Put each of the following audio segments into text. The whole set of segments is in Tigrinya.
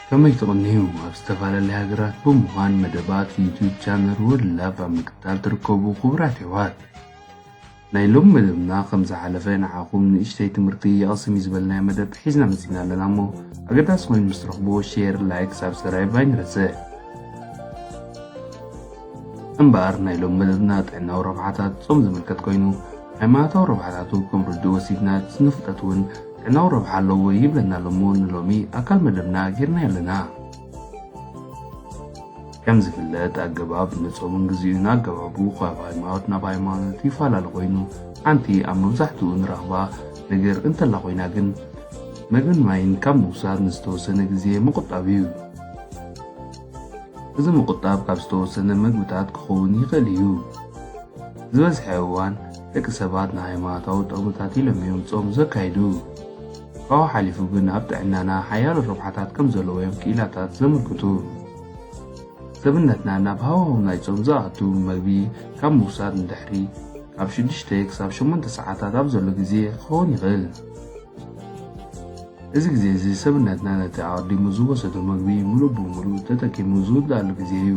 ከመይ ትቕንዩ ኣብ ዝተፈላለየ ሃገራት ብምዃን መደባት ዩቱብ ቻነል ወድ ላቭ ኣብ ምክትታል ትርከቡ ክቡራት የሕዋት ናይ ሎሚ መደብና ከም ዝሓለፈ ንዓኹም ንእሽተይ ትምህርቲ የቕስም እዩ ዝበልናዮ መደብ ሒዝና መጺና ኣለና እሞ ኣገዳሲ ኮይኑ ምስ ትረኽብዎ ሼር ላይክ ሳብስክራይብ ኣይንረስዕ እምበኣር ናይ ሎም መደብና ጥዕናዊ ረብሓታት ጾም ዝምልከት ኮይኑ ሃይማኖታዊ ረብሓታቱ ከም ርድኡ ወሲድና ስነ ፍልጠት እውን ጥዕናዊ ረብሓ ኣለዎ ይብለና ኣሎ እሞ ንሎሚ ኣካል መደብና ጌርናዮ ኣለና ከም ዝፍለጥ ኣገባብ ንጾምን ግዜኡን ኣገባቡ ካብ ሃይማኖት ናብ ሃይማኖት ይፈላለ ኮይኑ ሓንቲ ኣብ መብዛሕትኡ ንረኽባ ነገር እንተላ ኮይና ግን መግብን ማይን ካብ ምውሳድ ንዝተወሰነ ግዜ ምቑጣብ እዩ። እዚ ምቑጣብ ካብ ዝተወሰነ መግብታት ክኸውን ይኽእል እዩ። ዝበዝሐ እዋን ደቂ ሰባት ንሃይማኖታዊ ጠቕምታት ኢሎም እዮም ጾም ዘካይዱ። ካብኡ ሓሊፉ ግን ኣብ ጥዕናና ሓያሎ ረብሓታት ከም ዘለዎ'ዮም ክኢላታት ዘመልክቱ። ሰብነትና ናብ ሃዋህው ናይ ጾም ዝኣቱ መግቢ ካብ ምውሳድ ንድሕሪ ካብ ሽዱሽተ ክሳብ ሸሞንተ ሰዓታት ኣብ ዘሎ ግዜ ክኸውን ይኽእል። እዚ ግዜ'ዚ ሰብነትና ነቲ ኣቐዲሙ ዝወሰዶ መግቢ ምሉእ ብምሉእ ተጠቂሙ ዝውድኣሉ ግዜ'ዩ።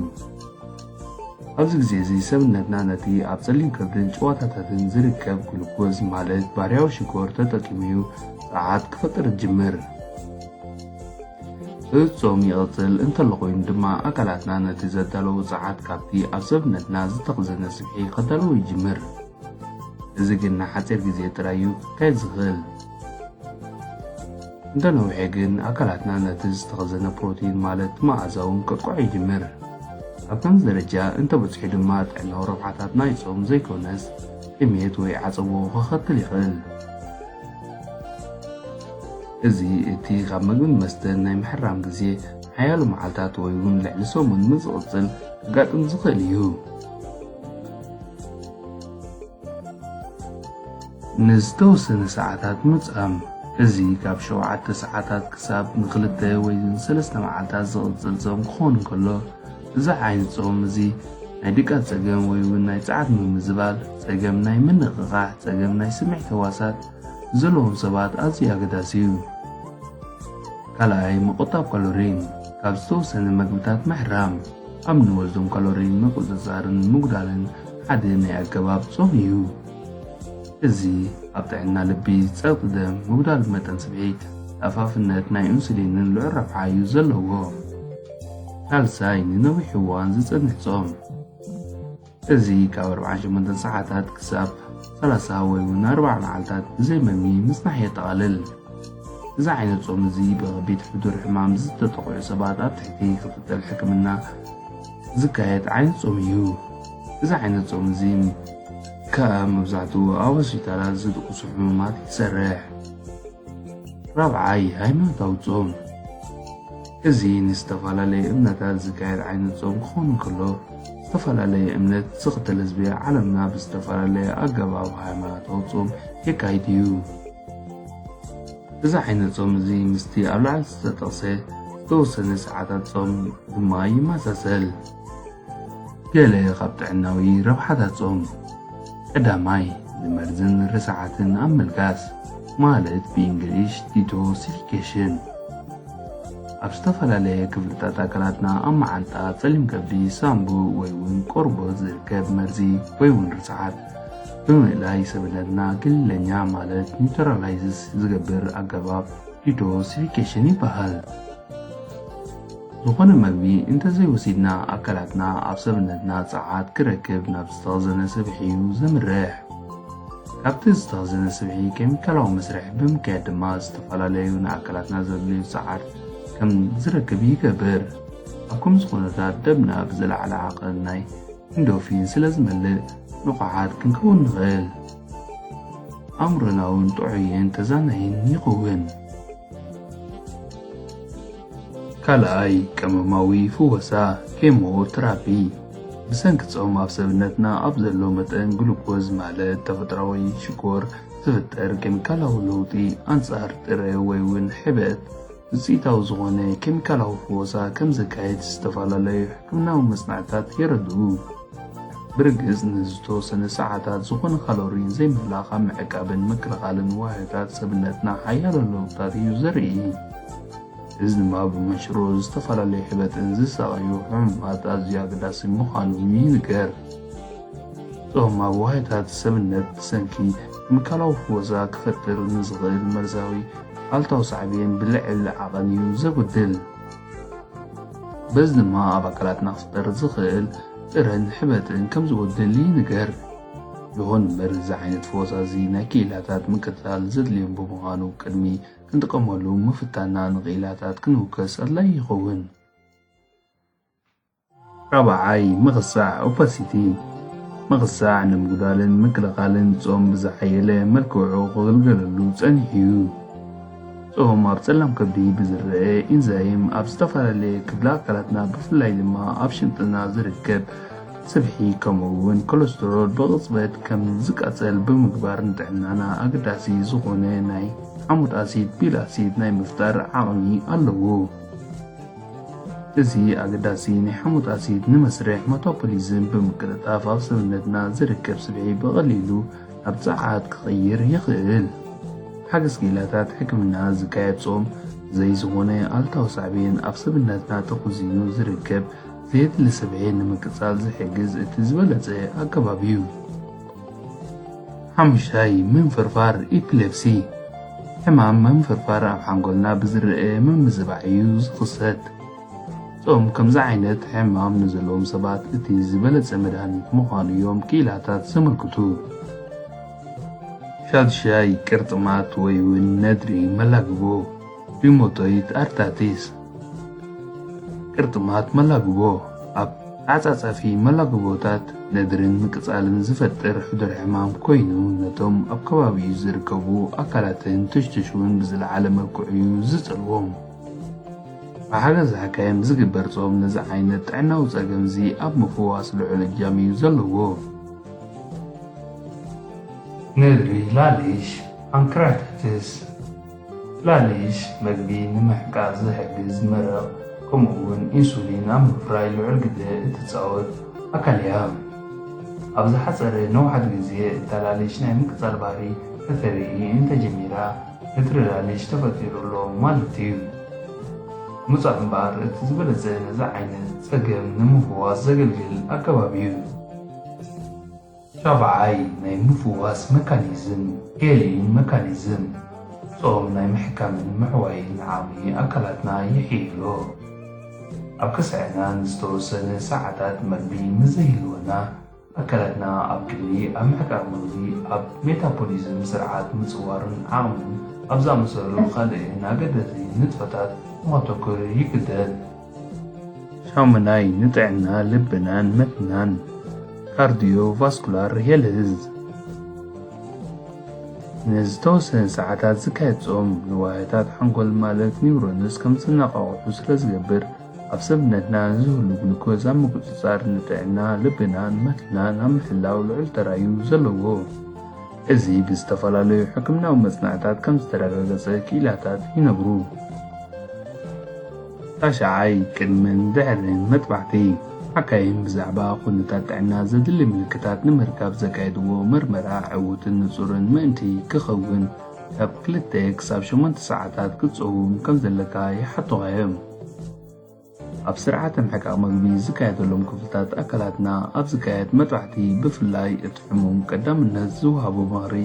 ኣብዚ ግዜ እዚ ሰብነትና ነቲ ኣብ ጸሊም ከብድን ጭዋታታትን ዝርከብ ግሉኮዝ ማለት ባህርያዊ ሽኮር ተጠቂሙ'ዩ ጸዓት ክፈጥር ዝጅምር። እጾም ይቕጽል እንተሎ ኮይኑ ድማ ኣካላትና ነቲ ዘዳለዉ ጸዓት ካብቲ ኣብ ሰብነትና ዝተኽዘነ ስብሒ ከዳልዎ ይጅምር። እዚ ግን ንሓጺር ግዜ ጥራይ'ዩ ክካየድ ዝኽእል። እንተ ነውሐ ግን ኣካላትና ነቲ ዝተኸዘነ ፕሮቲን ማለት መኣዛውን ከጥቅዖ ይጅምር። ኣብ ከምዚ ደረጃ እንተ በጽሑ ድማ ጥዕናዊ ረብሓታት ናይ ጾም ዘይኮነስ ጥሜት ወይ ዓጸቦ ከኸትል ይኽእል። እዚ እቲ ካብ መግብን መስተን ናይ ምሕራም ግዜ ሓያሎ መዓልታት ወይ እውን ልዕሊ ሰሙን ምስ ዝቕጽል ከጋጥም ዝኽእል እዩ። ንዝተወሰነ ሰዓታት ምጻም፣ እዚ ካብ ሸውዓተ ሰዓታት ክሳብ ንክልተ ወይ ንሰለስተ መዓልታት ዝቕጽል ጾም ክኸውን እንከሎ፣ እዚ ዓይነት ጾም እዚ ናይ ድቃስ ጸገም ወይ እውን ናይ ጸዓት ምምዝባል፣ ጸገም ናይ ምንቕቓሕ፣ ጸገም ናይ ስምዒት ህዋሳት ንዘለዎም ሰባት ኣዝዩ ኣገዳሲ እዩ። ካልኣይ፣ ምቑጣብ ካሎሪን፣ ካብ ዝተወሰነ መግብታት ምሕራም፣ ኣብ ንወስዶም ካሎሪ ምቁጽጻርን ምጉዳልን ሓደ ናይ ኣገባብ ጾም እዩ። እዚ ኣብ ጥዕና ልቢ፣ ጸቕጢ ደም፣ ምጉዳል መጠን ስብሒ፣ ተኣፋፍነት ናይ ኡንሱሊንን ልዑል ረብሓ እዩ ዘለዎ። ሳልሳይ ንነዊሕ እዋን ዝጸንሕ ጾም። እዚ ካብ ኣርብዓን ሸሞንተን ሰዓታት ክሳብ ሰላሳ ወይ እውን ኣርብዓ መዓልታት ብዘይ መግቢ ምጽናሕ የጠቓልል። እዚ ዓይነት ጾም እዚ ብከቢድ ሕዱር ሕማም ዝተጠቕዑ ሰባት ኣብ ትሕቲ ክትትል ሕክምና ዝካየድ ዓይነት ጾም እዩ። እዚ ዓይነት ጾም እዚ ከኣ መብዛሕትኡ ኣብ ሆስፒታላት ዝድቅሱ ሕሙማት ይሰርሕ። ራብዓይ ሃይማኖታዊ ጾም እዚ ንዝተፈላለዩ እምነታት ዝካየድ ዓይነት ጾም ክኾን እንከሎ፣ ዝተፈላለየ እምነት ዝኽተል ህዝቢ ዓለምና ብዝተፈላለየ ኣገባብ ሃይማኖታዊ ጾም የካይድ እዩ። እዚ ዓይነት ጾም እዚ ምስቲ ኣብ ላዕሊ ዝተጠቕሰ ዝተወሰነ ሰዓታት ጾም ድማ ይመሳሰል። ገለ ኻብ ጥዕናዊ ረብሓታት ጾም፣ ቀዳማይ፣ ንመርዝን ርስዓትን ኣብ ምልጋስ፣ ማለት ብእንግሊሽ ዲቶሲፊኬሽን። ኣብ ዝተፈላለየ ክፍልታት ኣካላትና ኣብ መዓንጣ፣ ጸሊም ከብዲ፣ ሳንቡእ ወይ'ውን ቆርቦት ዝርከብ መርዚ ወይ'ውን ርስዓት ብምእላይ ሰብነትና ክልለኛ ማለት ኒውትራላይዝስ ዝገብር ኣገባብ ዲቶሲፊኬሽን ይበሃል። ዝኾነ መግቢ እንተዘይወሲድና ኣካላትና ኣብ ሰብነትና ጸዓት ክረክብ ናብ ዝተኽዘነ ስብሒ እዩ ዘምርሕ። ካብቲ ዝተኽዘነ ስብሒ ኬሚካላዊ መስርሕ ብምክያድ ድማ ዝተፈላለዩ ንኣካላትና ዘድልዩ ጸዓት ከም ዝረክብ ይገብር። ኣብ ከምዚ ኩነታት ደምና ብዝለዓለ ዓቐን ናይ ኢንዶርፊን ስለ ዝመልእ ንቑሓት ክንከውን ንኽእል። ኣእምሮና እውን ጥዑይን ተዛናይን ይኸውን። ካልኣይ ቀመማዊ ፍወሳ፣ ኬሞ ትራፒ፣ ብሰንኪ ጾም ኣብ ሰብነትና ኣብ ዘሎ መጠን ግሉኮዝ ማለት ተፈጥራዊ ሽኮር ዝፍጠር ኬሚካላዊ ለውጢ ኣንጻር ጥረ ወይ ውን ሕበጥ ውጽኢታዊ ዝኾነ ኬሚካላዊ ፍወሳ ከም ዘካይድ ዝተፈላለዩ ሕክምናዊ መጽናዕትታት የረድኡ። ብርግጽ ንዝተወሰነ ሰዓታት ዝኾነ ካሎሪ ዘይምህላኽ ኣብ ምዕቃብን ምክልኻልን ዋህዮታት ሰብነትና ሓያሎ ለውጥታት እዩ ዘርኢ። እዚ ድማ ብመንሽሮ ዝተፈላለዩ ሕበጥን ዝሳቐዩ ሕሙማት ኣዝዩ ኣገዳሲ ምዃኑ ይንገር። ጾም ኣብ ዋህዮታት ሰብነት ብሰንኪ ኬሚካላዊ ፍወዛ ክፈጥር ንዝኽእል መርዛዊ ኣሉታዊ ሳዕቤን ብልዕል ዓቐን እዩ ዘጉድል። በዚ ድማ ኣብ ኣካላትና ክፍጠር ዝኽእል ጥረን ሕበጥን ከም ዝጎድል ይንገር። ይኹን እምበር እዚ ዓይነት ፈወስ ኣዚ ናይ ክኢላታት ምክትታል ዘድልዮም ብምዃኑ ቅድሚ ክንጥቀመሉ ምፍታንና ንክኢላታት ክንውከስ ኣድላዪ ይኸውን። ራብዓይ፣ ምቕጻዕ ኦፓሲቲ፣ ምቕጻዕ ንምጉዳልን ምክልኻልን ጾም ብዝሓየለ መልክዑ ክግልገለሉ ጸኒሑ እዩ። ጾም ኣብ ጸላም ከብዲ ብዝረኣ ኢንዛይም ኣብ ዝተፈላለየ ክፍሊ ኣካላትና ብፍላይ ድማ ኣብ ሽንጥና ዝርከብ ስብሒ ከምኡ'ውን ኮለስትሮል ብቕጽበት ከም ዝቃጸል ብምግባር ንጥዕናና ኣገዳሲ ዝኾነ ናይ ሓሞት ኣሲድ፣ ቢል ኣሲድ፣ ናይ ምፍጣር ዓቕሚ ኣለዎ። እዚ ኣገዳሲ ናይ ሓሞት ኣሲድ ንመስርሕ መታፖሊዝም ብምቅልጣፍ ኣብ ሰብነትና ዝርከብ ስብሒ ብቐሊሉ ናብ ጸዓት ክቕይር ይኽእል። ሓገስ ጌላታት ሕክምና ዝካየድ ጾም ዘይዝኾነ ኣሉታዊ ሳዕቤን ኣብ ሰብነትና ተኹዚኑ ዝርከብ ዘየድሊ ስብሒ ንምቅጻል ዝሕግዝ እቲ ዝበለጸ ኣገባብ እዩ። ሓሙሻይ ምንፍርፋር ኢፕሌፕሲ ሕማም ምንፍርፋር ኣብ ሓንጎልና ብዝረአ ምምዝባዕ እዩ ዝኽሰት። እቶም ከምዚ ዓይነት ሕማም ንዘለዎም ሰባት እቲ ዝበለጸ መድሃኒት ምዃኑ እዮም ክኢላታት ዘመልክቱ። ሻድሻይ ቅርጥማት ወይ እውን ነድሪ መላግቦ ቢሞጦይት ኣርታቲስ ቅርጥማት መላግቦ ኣብ ተዓጻጻፊ መላግቦታት ነድርን ምቅጻልን ዝፈጥር ሕዱር ሕማም ኮይኑ ነቶም ኣብ ከባቢኡ ዝርከቡ ኣካላትን ቱሽቱሽውን ብዝለዓለ መልክዑ'ዩ ዝጸልዎም። ብሓገዝ ሓካይም ዝግበር ጾም ነዚ ዓይነት ጥዕናዊ ጸገም'ዚ ኣብ ምፍዋስ ልዑል እጃም'ዩ ዘለዎ። ነድሪ ላሊሽ፣ ፓንክራታይትስ፣ ጽላልሽ መግቢ ንምሕቃቕ ዝሕግዝ መረቕ ከምኡ'ውን ኢንሱሊን ኣብ ምፍራይ ልዑል ግደ እትጻወት ኣካል እያ። ኣብ ዝሓጸረ ነውሓት ግዜ እታላልሽ ናይ ምቅጻል ባህሪ ከተርኢ እንተጀሚራ ንትርላልሽ ተፈጢሩ ኣሎ ማለት እዩ። ምጹዕ እምበኣር እቲ ዝበለጸ ነዚ ዓይነት ጸገም ንምፍዋስ ዘገልግል ኣገባብ እዩ። ሻብዓይ ናይ ምፍዋስ መካኒዝም፣ ሄሊንግ መካኒዝም፣ ጾም ናይ ምሕካምን ምሕዋይን ዓቕሚ ኣካላትና የሕይሎ። ኣብ ከስዐና ንዝተወሰነ ሰዓታት መግቢ ምስ ዘይህልወና፣ ኣካላትና ኣብ ክንዲ ኣብ ምሕቃቕ መግቢ ኣብ ሜታፖሊዝም ስርዓት ምጽዋርን ዓቕምን ኣብ ዝኣመሰሉ ካልእን ኣገደዝቲ ንጥፈታት ንኸተኩር ይግደድ። ሻሙናይ ንጥዕና ልብናን መትናን ካርዲዮ ቫስኩላር ሄልዝ ንዝተወሰነ ሰዓታት ዝካየድ ጾም ንዋህታት ሓንጎል ማለት ኒውሮንስ ከም ዝነቓቕሑ ስለ ዝገብር ኣብ ሰብነትና ዝህሉ ግሉኮዝ ኣብ ምቁጽጻር ንጥዕና ልብናን መትናን ኣብ ምሕላው ልዑል ተራ እዩ ዘለዎ እዚ ብዝተፈላለዩ ሕክምናዊ መጽናዕታት ከም ዝተረጋገጸ ክኢላታት ይነግሩ ራሻዓይ ቅድምን ድሕርን መጥባሕቲ ሓካይም ብዛዕባ ኩነታት ጥዕና ዘድሊ ምልክታት ንምርካብ ዘካየድዎ መርመራ ዕዉትን ንጹርን ምእንቲ ክኸውን ካብ ክልተ ክሳብ ሸሞንተ ሰዓታት ክትጸውም ከም ዘለካ ይሓቱኻ እዮም። ኣብ ስርዓተ ምሕቃቕ መግቢ ዝካየደሎም ክፍልታት ኣካላትና ኣብ ዝካየድ መጥባሕቲ ብፍላይ እቲ ሕሙም ቀዳምነት ዝወሃቦ ምኽሪ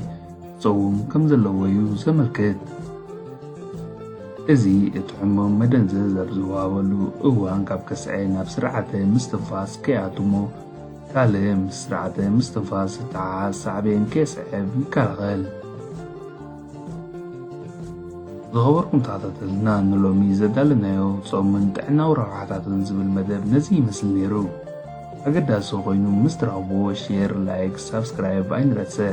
ክጸውም ከም ዘለዎ'ዩ ዘመልክት። እዚ እቲ ሕሙም መደንዘዝ ኣብ ዝወሃበሉ እዋን ካብ ከስዐ ናብ ስርዓተ ምስትንፋስ ከይኣቱ'ሞ ካልእ ምስ ስርዓተ ምስትንፋስ ዝተሓሓዝ ሳዕቤን ከየስዕብ ይከላኸል። ዝኸበርኩም ተኸታተልትና ንሎሚ ዘዳለናዮ ጾምን ጥዕናዊ ረብሓታቱን ዝብል መደብ ነዚ ይመስል ነይሩ። ኣገዳሲ ኮይኑ ምስ ትረኽብዎ ሼር፣ ላይክ፣ ሳብስክራይብ ኣይንረስዕ።